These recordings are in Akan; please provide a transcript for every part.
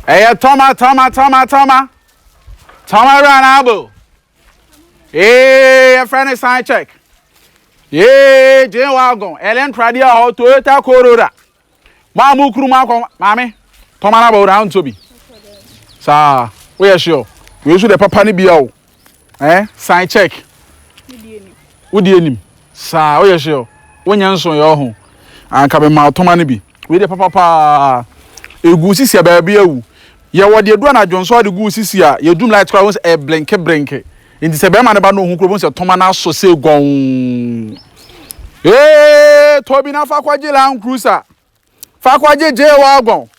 Ɛyɛ tɔma tɔma tɔma tɔma tɔma wura n'abo ee yɛfrɛ ne sign check ee gye wagon ɛlɛ ntradeɛ wɔ hɔ Toyota Corolla maa mo kuru mu akɔ maame tɔma n'abo wura ntɔ bi saa woyɛ hyeɛ wei nso deɛ papa ne bia o. Eh sign check. Wodi anim. Saa woyɛ hye o. Wonyɛ nso yɛ ɔho. Anka me ma ɔtoma no bi. Wei de papa paa. Egu sisi a baabi awu. Yɛ wɔ de edu anadwo nso ade gu sisi a yɛ dum light kora wo sɛ e blinke blinke. Nti sɛ bɛrima no ba na ohun kura bo sɛ toma no asɔ sei gɔn. Ee Tobi na fa kɔgye Land Cruiser. Fa kɔgye J-Wagon.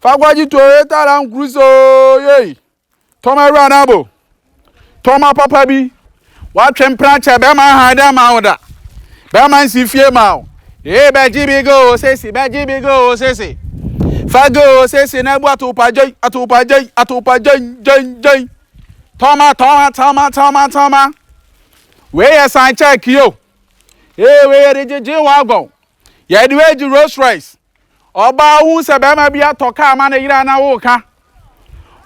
Fa kɔgye Toyota Land Cruiser o yei. Tɔ ma awura no abo. Tɔ ma papa bi. Watwe mpena kyɛ bɛrima ahan dɛ ma wo da. Bɛrima nsi fie ma wo. Ee bɛgye bi go o sesi bɛgye bi go o sesi. Fa go o sesi na bu atopa gyei atopa gyei atopa gyei gyei gyei. Tɔ ma tɔ ma tɔ ma tɔ ma tɔ ma. Wei yɛ san kyɛɛke o. Ee wei yɛde gyegye w'agɔn. Yɛde wei gye Rolls Royce. Ɔbaa hu sɛ bɛrima bi atɔ kaa ma ne yere a na woka.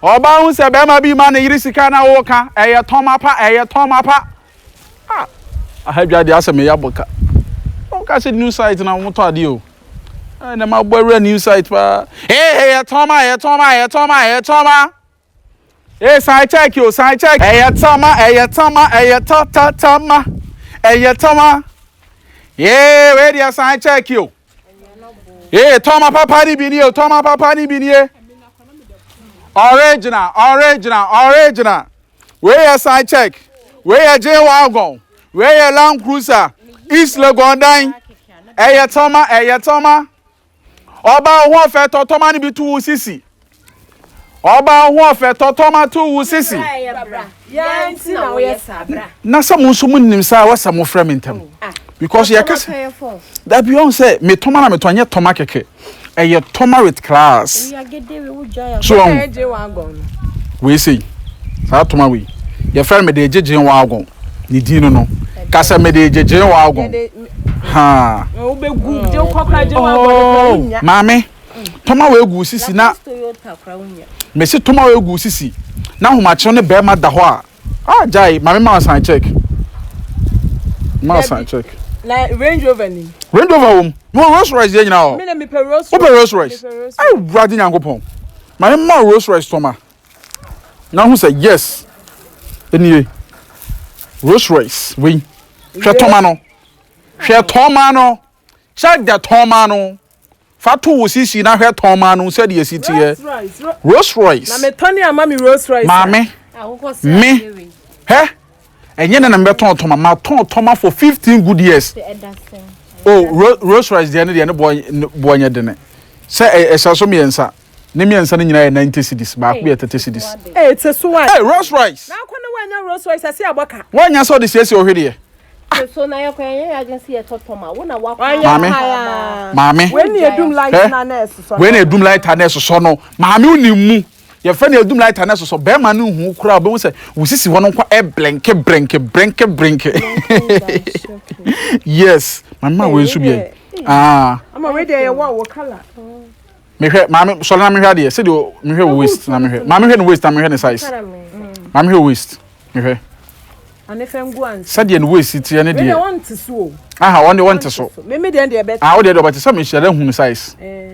Ɔbaa hu sɛ bɛrima bi ma ne yere sika na woka. Ɛyɛ tɔn mapa, ɛyɛ tɔn mapa. Ah, aha dwa deɛ asɛ meyɛ abɔka. Woka sɛ new site na wɔtɔ adeɛ o. Ɛnɛ mabɔ awura new site paa. Ee, ɛyɛ tɔn ma, ɛyɛ tɔn ma, ɛyɛ tɔn ma, ɛyɛ tɔn ma. Ee san check o san check. Ɛyɛ tama ɛyɛ tama ɛyɛ ta ta tama ɛyɛ tama. Ee wei deɛ san check o. Ee tɔma papa ni bi ni o tɔma papa ni bi ni e. Original original original. Wei yɛ san check. Wei yɛ gye wagon. Wei yɛ Land Cruiser. East Legon dan. Ɛyɛ tama ɛyɛ tama. Ɔbaa ɔhoɔfɛ tɔ tɔma no bi to wo sisi. Ɔbaa ɔhoɔfɛ tɔ tɔma to wo sisi. Na sɛ mo nso mo nim saa wɔsɛ mo frɛ me ntɛm. Ah. Because yɛ kɛse. Dabi ɔn sɛ me tɔma na me tɔ nyɛ tɔma kɛkɛ. Ɛyɛ tɔma with class. So ɔn. Wei sɛ saa tɔma wei. Yɛ fɛ me de gyegyen wɔ agɔn. Ne din no no. Kasɛ me de gyegyen wɔ agɔn. Maame, tɔma wei gu wo sisi na mesi tɔma wei gu wo sisi na ahomakyew ne bɛrima da hɔ a ah gyae maame ma ɔsan check ma ɔsan check na range rover ni range rover wom mo rolls royce yɛ nyina hɔ wopɛ rolls royce awurade nyankopɔn maame ma rolls royce tɔma na hu sɛ yes nie Rolls Royce wei hwɛ tɔma no hwɛ tɔma no check the tɔma no fa to wo sisi na hwɛ tɔma no sɛdeɛ ɛsi teɛ Rolls Royce na metɔne ama me Rolls Royce maame me hɛ Ɛnyɛ nnɛ na mebɛtɔn tɔma, matɔn tɔma for fifteen good years. Oh, Rolls Royce deɛ no deɛ ne boɔ nyɛ dene. Sɛ ɛhyɛ so mmiɛnsa, ne mmiɛnsa no nyinaa yɛ ninety cedis, baako yɛ thirty cedis. Ee, te so a. Ee, Rolls Royce. Na akɔ na wanya Rolls Royce ase abɔ ka. Wanya sɛ ɔde siesie ɔhwe deɛ. Te so na yɛkɔ yɛnyɛ yɛ adwene sɛ yɛtɔ tɔma, wo na wakɔ. Maame, maame. Wei na edum light na na ɛsosɔ. Wei na edum light na ɛsosɔ no, maame wo ni mu. Yɛfrɛ no adum lighter na ɛsosɔ bɛrima no nhu koraa obehu sɛ wo sisi hɔ no nkwa ɛblenke brenke brenke brenke yes maame ma wei nso bi yɛ aa ama wei deɛ yɛ wɔ wɔ kala mehwɛ maame sɔre na mehwɛ adeɛ sɛdeɛ mehwɛ wo waist na mehwɛ maame hwɛ ne waist na mehwɛ ne size maame hwɛ waist mehwɛ sɛdeɛ ne waist teɛ ne deɛ aha wɔn deɛ wɔn te so ah wɔn deɛ deɛ ɔbɛte sɛ mehyɛ dɛ hu ne size. Eh.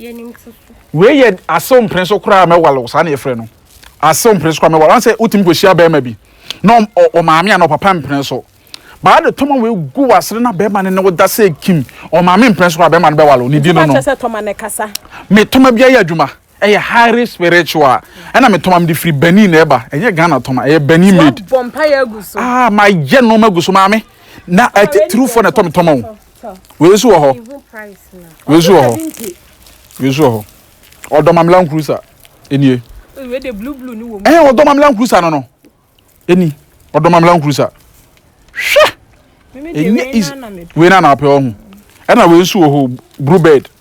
Yɛnim to so. Wei yɛ asew mpene so koraa mɛwalew saa na yɛfrɛ no asew mpene so koraa mɛwalew wɔn sɛ wotumi kɔhyia bɛrima bi na ɔmaame a na ɔpapa mpene so baa de tɔma wei gu w'asere na bɛrima no ne wo da sɛ kim ɔmaame mpene so koraa bɛrima no bɛwalew ne di no no me tɔma bi ayɛ adwuma ɛyɛ highly spiritual ɛna me tɔma me de firi Benin na ɛba ɛnyɛ Ghana tɔma ɛyɛ Benin made ah ma yɛ nneɛma gu so maame na ɛtitiriw fo na ɛtɔ me tɔma o. wei nso wɔ hɔ wei nso wɔ hɔ wei nso wɔ hɔ ɔdɔmamela nkurusa enie ɛhɛn eh, ɔdɔmamela nkurusa no no eni ɔdɔmamela nkurusa hwɛ enye is wei na na apɛ ɔho ɛna wei nso wɔ hɔ blue bird.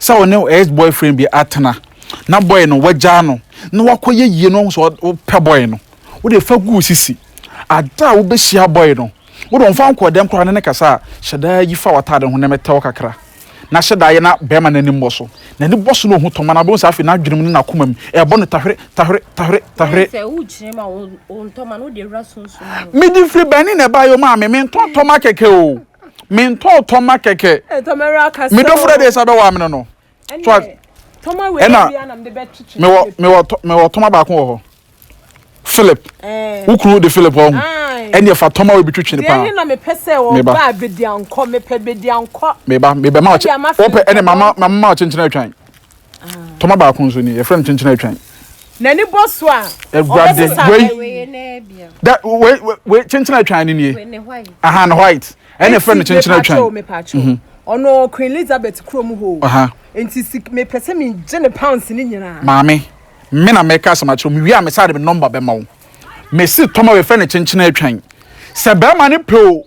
sɛ ɔne wo ex boyfriend bi atena na boy no wagyaa no na wakɔyɛ yie na wahu sɛ wopɛ boy no wode fa gu wo sisi ada a wobɛhyia boy no wode ɔmfa nkɔ dɛm koraa ne ne kasa a hyɛ daa yi fa w'ataade ho na mɛtɛ wo kakra na hyɛ daa yɛ na bɛrima no anim bɔ so n'ani bɔ so na ɔhu tɔma na wobɛhu sɛ afei n'adwenem ne n'akoma mu ɛbɔ no tahwere tahwere tahwere tahwere mede firi bɛne na ɛbaeɛ o maame mentɔn tɔma kɛkɛ o mentɔɔ tɔma kɛkɛ me dɔfo dɛ deɛ sɛ bɛwɔ amene no so ɛna mewɔ mewɔ mewɔ tɔma baako wɔ hɔ Philip eh. wo kunu de Philip hɔ ɛneɛ fa tɔma wei bi twetwe ne paa meba meba mebɛma wopɛ ɛne mama mama ɔkyenkyena atwan Tɔma baako nso ni, yɛfrɛ no kyenkyen atwan. N'ani bɔ so a, Awurade, wei, da, wei, wei, kyenkyen atwan no nie. Aha, no white. Ɛna yɛfrɛ no kyenkyen atwan. Ɔno Queen Elizabeth kurom hɔ. Aha. Nti si mepɛ sɛ megye ne pounds ne nyinaa. Maame, me na mɛka asɛm akyerɛ wo. Mewie a, me saa de me nɔmba bɛma wo. Mesi tɔma wei fɛ no kyenkyen atwan. Sɛ bɛrima no pɛ o,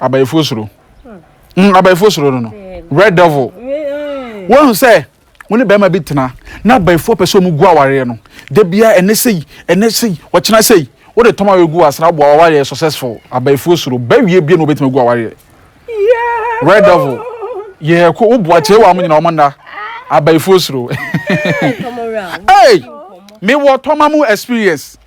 abayifoɔ suro mm, abayifoɔ suro no no red devil wɔn sɛ wɔn ne bɛrima bi tena na abayifoɔ pɛ sɛ wɔn gu awareɛ no da bia ɛnɛ sɛyi ɛnɛ sɛyi wɔkyena sɛyi wɔde tɔm awareɛ gu asena aboa awareɛ successful abayifoɔ suro bɛwie bie na wɔbɛtumi gu awareɛ red devil yɛ ko woboa kyerɛ wɔn nyina wɔn nna abayifoɔ suro ee mewɔ tɔma mu experience.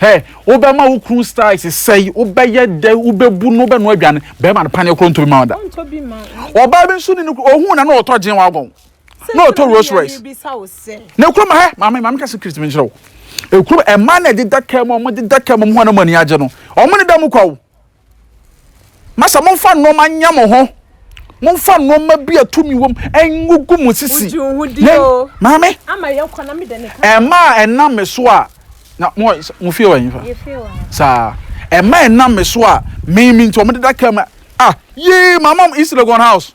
Hɛ, wobɛma wo kunu styles sɛe, wobɛyɛ dɛ, wobɛbu no, wobɛnoa aduane. Bɛrima no paneɛ korɔ ntɔ bi ma wo da. Ɔbaa bi nso ni no, ɔhu na na ɔtɔ gyen wagon, na ɔtɔ Rolls Royce. Na ekuro ma hɛ, maame, maame ka secret mi nkyerɛ wo. Ekuro, ɛmaa na ɛdeda kɛm, wɔn deda kɛm, wɔn ho anam ani agye no. Wɔn ne da mu kwa o. Masa, momfa nnoɔma nyɛ mo ho. Momfa nnoɔma bi a tumi wom ngugu mo sisi. Yɛn, maame, ɛma a ɛnam me so a, na mo mo fie wɔ nfa. Saa, ɛma ɛnam me so a, me me nti wɔn deda kɛm a, ah, yee, my mom East Legon house.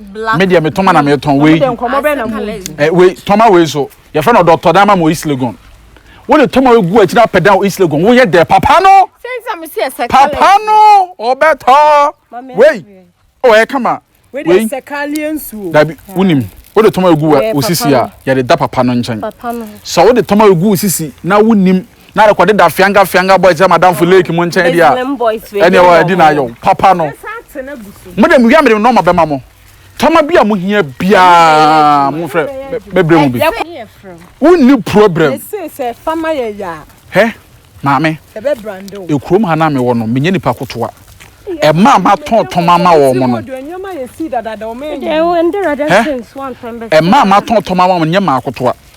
black me deɛ me toma na me tɔn wei eh, wei toma wei so yɛfrɛ no dɔtɔ dama mo east legon wo de toma egu akyiri apɛ dan east legon woyɛ dɛ papa no papa no ɔbɛtɔ wei o oh, ɛyɛ kama wei dabi wunim wo de toma egu wɔ osisi a yɛde da papa no nkyɛn sɛ wo de toma egu osisi na wunim Na rekɔ de da fianga fianga boys ama damfo lake mo nkyɛn deɛ a ɛne ɛwɔ ɛdi na ayɔ papa no mo de mo wia mede nɔma bɛma mo tɔma bi a mo hia biara mo frɛ mɛbrɛ mu bi wonni problem hɛ maame ekurom ha na mewɔ no menyɛ nipa kotoa ɛma a matɔn tɔma ama wɔn mo no ɛma a matɔn tɔma ama wɔn nyɛ maa kotoa.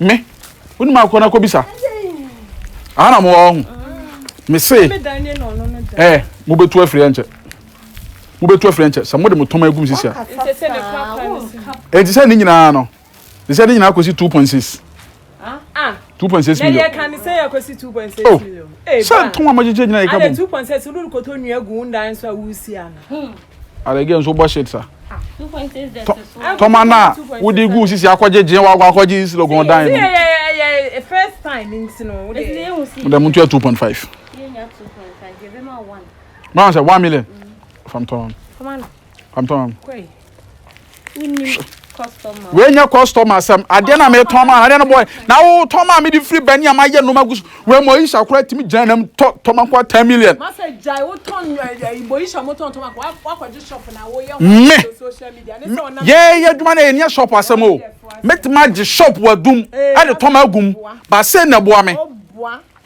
me wonim a kɔ na kɔbisa aha na mowɔ ho mese eh, mobɛtu afiri ɛnkyɛ mobɛtu afiri ɛnkyɛ sɛ mode mo tɔma agum sisi a ɛnti sɛ ne nyinaa no ne sɛ ne nyinaa kɔsi 2.6 two point six million. na yɛ kan sɛ yɛ kɔ si two point six oh. million. sɛ tɔn a ma gyegye nyina yɛ ka bɔ. adɛ two point six olu kɔtɔ nua gu ndan so a wusi ana. Ada girl nso bɔ shit sa. Tɔma na wodi gu sisi akɔgye gye wa akɔgye sisi logon dan no. Yeah, first time nti no. Dem ntua 2.5. Yenya 2.5. Yebe ma 1. Ma sɛ 1 million. Fam tɔn. Fam tɔn. Koi. Hwɛ. Wenya customer asɛm. Adeɛ na metɔn ma adeɛ no boy. Na wo tɔn ma me de free bani ama yɛ noma gus. We mo isha kura timi gyina nam tɔ tɔma kwa 10 million. Ma sɛ jai wo tɔn eh, mo isha mo tɔn tɔma kwa wakɔ gye shop na wo yɛ ho social media. Ne sɛ ɔnam. Yɛ yɛ adwuma na yɛ nia shop asɛm o. Metma gye shop wadum. Ɛde tɔma agum. Ba sɛ na boa me.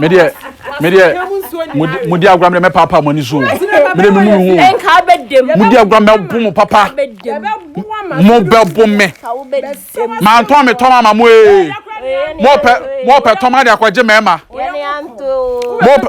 medeɛ medeɛ modi agorɔ mede mɛpaapa mo ani so mede memu me ho modi agorɔ mɛbo mo papa mo bɛbo me mantɔn me tɔn ama mo ee mopɛ mopɛ tɔn ade akɔgye mɛɛma mopɛ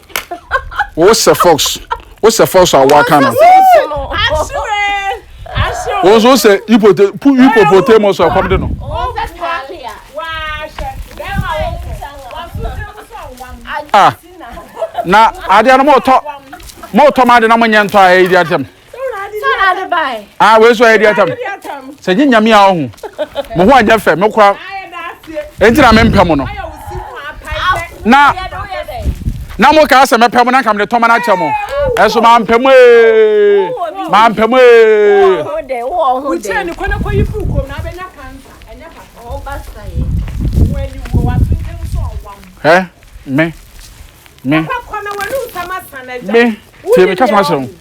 wo sɛ fox wo sɛ fox a waka no wo nso sɛ hippopotamus a kɔm de no ah na adeɛ no motɔ motɔ ma ade na monyɛ ntɔ a ɛyɛ di atɛm ah wei so ayɛ di atam sɛ nye nyame a ɔho mo ho anyɛ fɛ mekora enti na mempɛ mo no na na mo kaa sɛ mɛpɛ mo na nka mede tɔma no akyɛ mo ɛso mampɛ mo ee mampɛ mo ee ɛ me me me tie me kasa ma sɛ ho